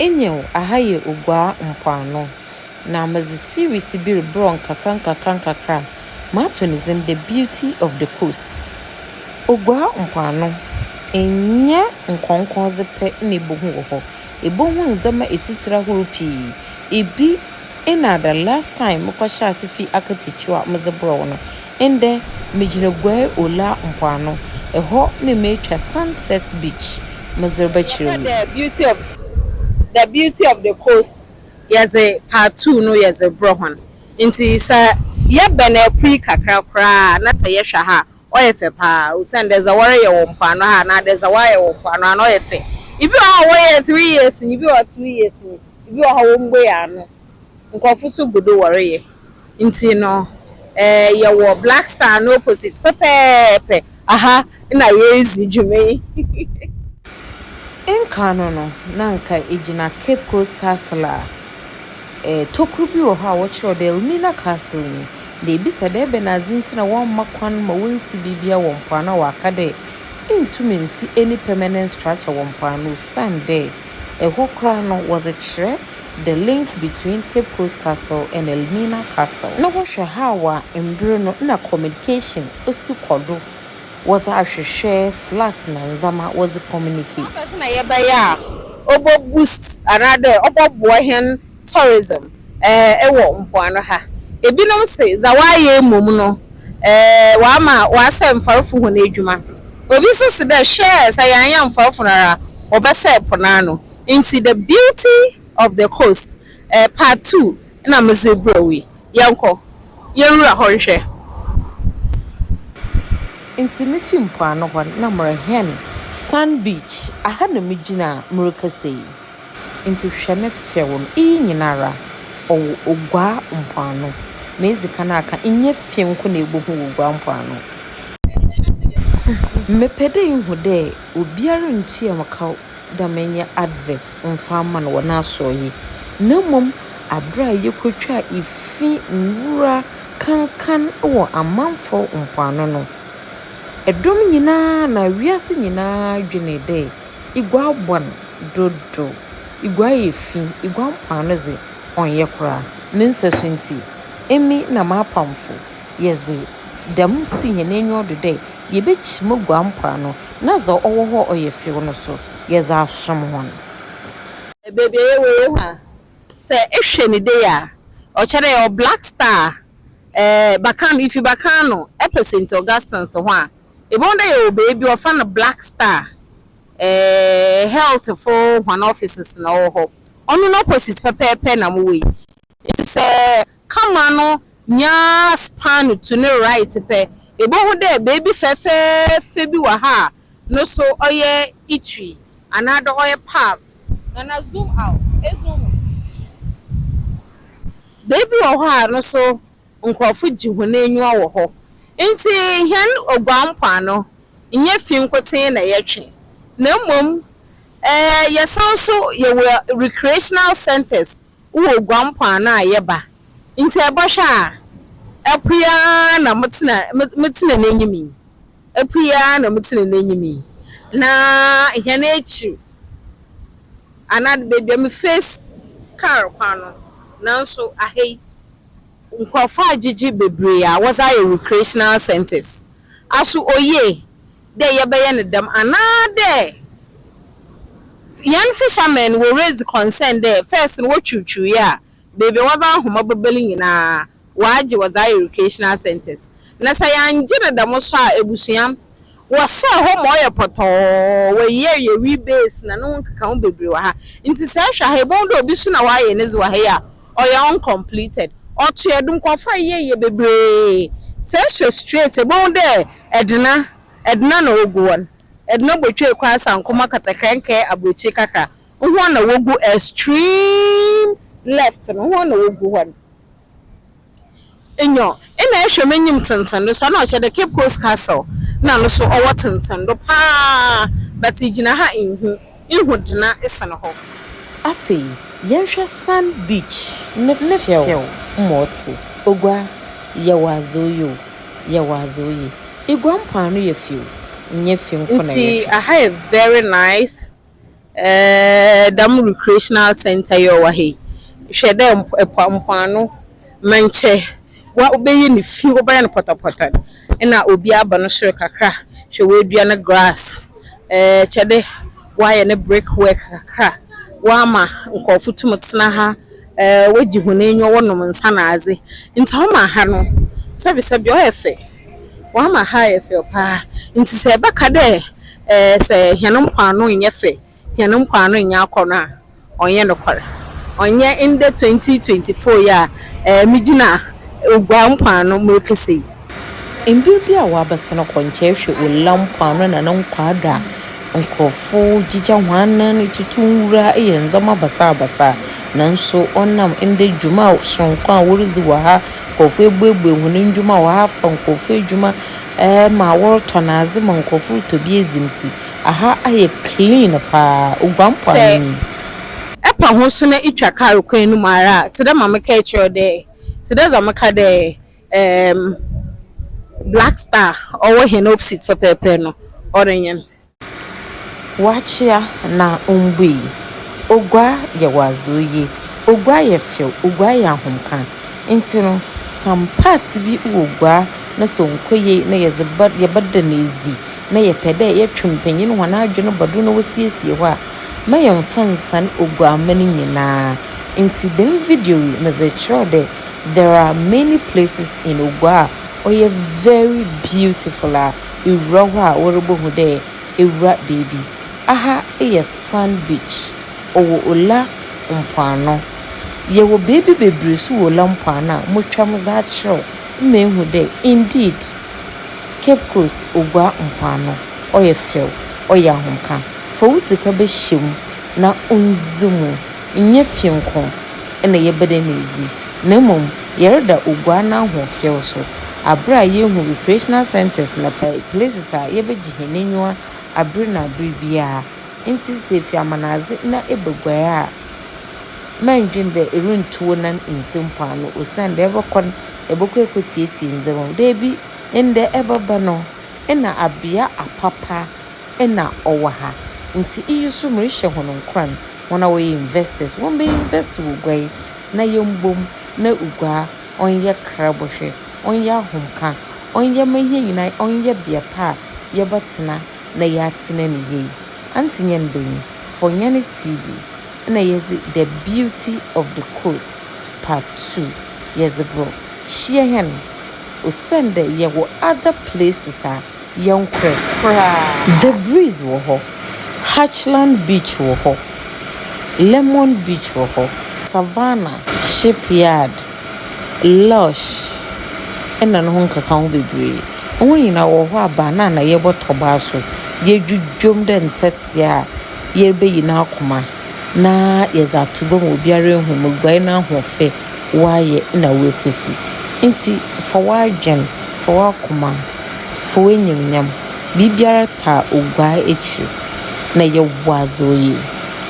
Nyew, ha yɛ Oguaa mpoano, na medze series bi robrɛ wo nkakrankakra a mato no dzin The Beauty of the Coast. Oguaa mpoano, nnyɛ nkɔnkɔndze pɛ na ibohu wɔ hɔ, ibohu ndzɛmba etsitsir ahorow pii. Bi Nna the last time mokɔhyɛɛ ase fii akatakyiw a medze brɛɛ wo no. Ndɛ, migyina Guai Ola mpoano. Hɔ na meetwa Sunset Beach medze rebɛkyerɛ Yɛfrɛ The Beauty of The Beauty of the Coast yɛdze part two no yɛdze brɛ hɔn. Ntsi sɛ yɛbɛn Apuei kakra koraa a na sɛ yɛhwɛ ha a, Ɔyɛ fɛ paa osian dɛ dza wɔreyɛ wɔ mpoano ha anaa dɛ dza wɔayɛ wɔ mpoano ha no ɔyɛ fɛ. Ibi wɔ hɔ a wɔyɛɛ three years nye bi wɔ hɔ two years nye bi wɔ hɔ a wommbuei ano. Nkorɔfo so gu do wɔreyɛ. Ntsi no eh yɛwɔ Black Star no opposite pɛpɛɛpɛ aha na yeridzi dwuma yi. Nkan no no na nka egyina Cape Coast Castle a tokuro bi wɔ hɔ a wɔkyerɛw dɛ Elmina Castle nyi, na ebisa dɛ ebɛnadze ntsi na wɔamma kwan ma wonsi biribiara wɔ mpoano a wɔaka dɛ inntum nnsi any permanent structure wɔ mpoano osiandɛ hɔ koraa no wɔdze kyerɛ the link between Cape Coast Castle and Elmina Castle. No ho hwɛ haaw a mber no nna communication si kɔ do wɔdze ahwehwɛ flax na ndzɛmba wɔdze communicate. Ebɛnadze na yɛbɛyɛ a ɔbɔ boost anaadɛ ɔbɔboa hɛn tourism wɔ mpoano ha? Binom se dza wɔayɛ mom no ɔama wɔasɛɛ mfarfo hɔn edwuma. Obi so se dɛ hwɛ sɛ yɛannyɛ mfarfo no ara a wɔbɛsɛɛ po no ano. Ntsi The Beauty of the Coast Part Two na medze rebrɛ wo yi, yɛnkɔ, yɛnwura hɔ nhwɛ. Ntsi mifi mpoano hɔ na merehɛn Sand Beach, aha na migyina a merekasa yi. Ntsi hwɛ me fɛw no, iyi nyinara ɔwɔ Oguaa mpoano. Medzi kan aka, nnyɛ fi nko na ibohu wɔ Oguaa mpoano. Mepɛ dɛ ihu dɛ obiara nntua wo kaw da me nyɛ advert mfa mma no wɔ n'asoɛe yi, na mmom bere a yekotwaa efi nwura kankan wɔ amamfõ mpoano no. Dɔm nyina na wiase nyina dwenee dɛ iguaa bɔn dodow, iguaa yɛ fi, iguaa mpoano dze ɔnnyɛ koraa. Ne nsasu ntsi, emi na m'apamfo yɛdze dɛm si hɛn enyiwa do dɛ yebekyim eguar mpoano na dza ɔwɔ hɔ a ɔyɛ few no so, yɛdze asom hɔn. Beebi a yɛwɔ wɔ ha, sɛ ehwɛ ne dei a, ɔkyerɛ dɛ yɛwɔ Black Star, Bakano, ifi Bakano epɛ Saint Augustine's ho a, ibohu dɛ yɛwɔ beebi a wɔfrɛ no Black Star health fo hɔn offices na ɔwɔ hɔ. Ɔno no opposite pɛpɛɛpɛ na mowɔ yi. Ntsi sɛ camera no nya span to no right pɛ, ibohu dɛ beebi fɛfɛɛfɛ bi wɔ ha a no so ɔyɛ itwi anaadɛ ɔyɛ palm. Nana zoom out, ezoom mu pii. Beebi wɔ hɔ a no so nkorɔfo gye hɔn enyiwa wɔ hɔ. Ntsi hɛn Oguaa mpoano, nnyɛ fi nkotsee na yɛtwe, na mbom yɛsan so yɛwɔ recreational centres Wowɔ gua mpoano a yɛba nti ɛbɔhwɛ a apue ara na motena motena n'enyim yi apue ara na motena n'enyim yi na hɛn ekyir anaa beebi a me face kaar kwan no nanso aha yi nkorɔfo agyegye bebree a wɔdze ayɛ recreational centres aso oyie. dɛ yɛbɛyɛ no dɛm anaadɛ hɛn fishermen no wɔ raise concern dɛ first no wotwuutwuu yɛ a beebi a wɔdze ahoma bɛba no nyina wɔagye wɔdze ayɛ recreational centres na sɛ yɛanngye no dɛm so a ebusua wɔsɛɛ hɔ ma ɔyɛ pɔtɔɔ wɔ year year wee base na no ho nkekaho beberee wɔ ha ntsi sɛ ehwɛ ha ibohu dɛ obi so na ɔayɛ nedze wɔ ha yi a ɔyɛ uncompleted ɔtoa do nkorɔfo ayeyɛyeyɛ beberee sɛ ehwɛ straight ebohu dɛ Edna, Edna na ogu hɔ no. Edna botwee kɔ Asankuma Katakrɛnkɛɛ aburokyir kakra. Hɔn na wogu extreme left no, hɔn na wogu hɔ no. Nyew, nna ehwɛ m'enyim tsentsen do so a, nna ɔkyerɛ dɛ Cape Coast Castle, nna no so ɔwɔ tsentsen do paa, but igyina ha a innhu. Ihu dena sen hɔ. Afei yɛnhwɛ sand beach ne fɛw ma ɔte. Ogua, yɛ w'adze oye o, yɛ w'adze oye. Igua mpoano yɛ fi o, nnyɛ fi nko na yɛtwe. Nti aha yɛ very nice eh, dɛm recreational centre yi ɔwɔ ha yi, hwɛ dɛ mpoano mɛnkyɛ. Wa wobɛyɛ ne fi wobɛyɛ no pɔtɔpɔtɔ na obi aba no soro kakra hwɛ woadua no grass ɛɛ kyɛde woayɛ ne brick work kakra woama nkɔɔfo tum tena ha ɛɛ wogye hɔn enyiwa wɔnom nsa na adze ntsi ɔma ha no sɛbesɛbe ɔyɛ fɛ woama ha ayɛ fɛ paa ntsi sɛ ɛbɛka dɛ ɛɛ sɛ hɛn mpoano nnyɛ fɛ. Hɛn mpoano nnyɛ akɔnɔ a ɔnnyɛ nokwar. Ɔnnyɛ ndɛ twenty twenty four yi a migyina Oguaa mpoano merekasa yi. Mber bi a wɔabɛsan kɔ nkyɛe hwɛ Ola mpoano na no nkwaa do a, nkorɔfo gyigya hɔn anan, tutu nwura, yɛ ndzɛmba basaabasaa. Naaso ɔnam ndɛ dwuma soronko a woridzi wɔ ha, nkorɔfo ebuebue hɔn ndwuma, wɔafa nkorɔfo edwuma ma wɔrotɔn adze ma nkorɔfo rotɔ bi edzi ntsi, Aha ayɛ clean paa, oguan po ano yi. Sɛ epa ho so na itwa kaar kwan no mu ara a, tse dɛ ma mekãe kyerɛ wo dɛ, tse dɛ dza mekã dɛ eem, Black Star a ɔwɔ hɛn opsite pɛpɛɛpɛr no, ɔrenyen. Ɔakyea na ommbui. Ogua yɛ ɔadze oye, ogua yɛ fɛw, ogua yɛ ahomkã. Ntsi no, some parts bi wɔ gua no sɛ ɔnnkɔ yie na yɛdze bɛ yɛbɛda no edzi. na yɛpɛ dɛ yɛtwe mpanyin hɔn adwen ba do na wosiesie hɔ a, mma yɛmmfa nnsan Oguamma no nyina. Ntsi dɛm video yi medze rekyerɛw dɛ there are many places in Oguaa a ɔyɛ very beautiful a ewura hɔ a worobohu dɛ ewura beebi. Aha yɛ Sand Beach, ɔwɔ Ola mpoano. Yɛwɔ beebi beberee so wɔ Ola mpoano a motwa medze akyerɛw ma ehu dɛ indeed Cape Coast obua mpoano, ɔyɛ fɛw, ɔyɛ ahomka. Fa wo sika bɛhyɛ mu na ondzi mu. Nnyɛ fie nko na yɛbɛda no edzi, na mbom yɛreda obua n'ahoɔfɛw so aber a yehu recreational centres na places a yɛbɛgye hɛn enyiwa aber na aber biara. Ntsi sɛ efi Amanadze na eba Guae a, mma nndwen dɛ irunntu wo nan nnsi mpoano osiandɛ ebɔkɔ no, ebɔkɔ ekotseetsie ndzɛmba mu. Dabi! Ndɛ ebɛba no nna abea apapa na ɔwɔ ha, ntsi iyi so merehyɛ hɔn nkuran, hɔn a wɔyɛ investors wɔmbɛ invest wɔ gua yi na yɛmbɔ mu na gua ɔnyɛ krabɔhwɛ, ɔnyɛ ahomka, ɔnyɛ ma hɛn nyina ɔnyɛ bea pa a yɛbɛtsena na yɛatsena no yie. Antsenya Nbanyin, For Nyane's TV na yɛdze The Beauty of the Coast Part Two yɛdze bor. Hyia hɛn. Osiandɛ yɛwɔ other places a yɛnnkorɛ koraa. The Breeze wɔ hɔ, Hatchland Beach wɔ hɔ, Lemon Beach wɔ hɔ, Savannah, Shipyard, Lush na no ho nkekaho beberee. Hɔn nyina wɔwɔ hɔ a na yɛbɔ tɔbaa so, yedwudwam dɛ ntsɛtsea a yebeyi n'akoma na yɛdze ato gua ma obiara ehu mboguae n'ahoɔfɛ. woayɛ na woekwesi. Ntsi fa w'adwen, fa w'akoma, fa w'enyimnyam, biribiara taa oguaa ekyir, na yɛ boa dza oye.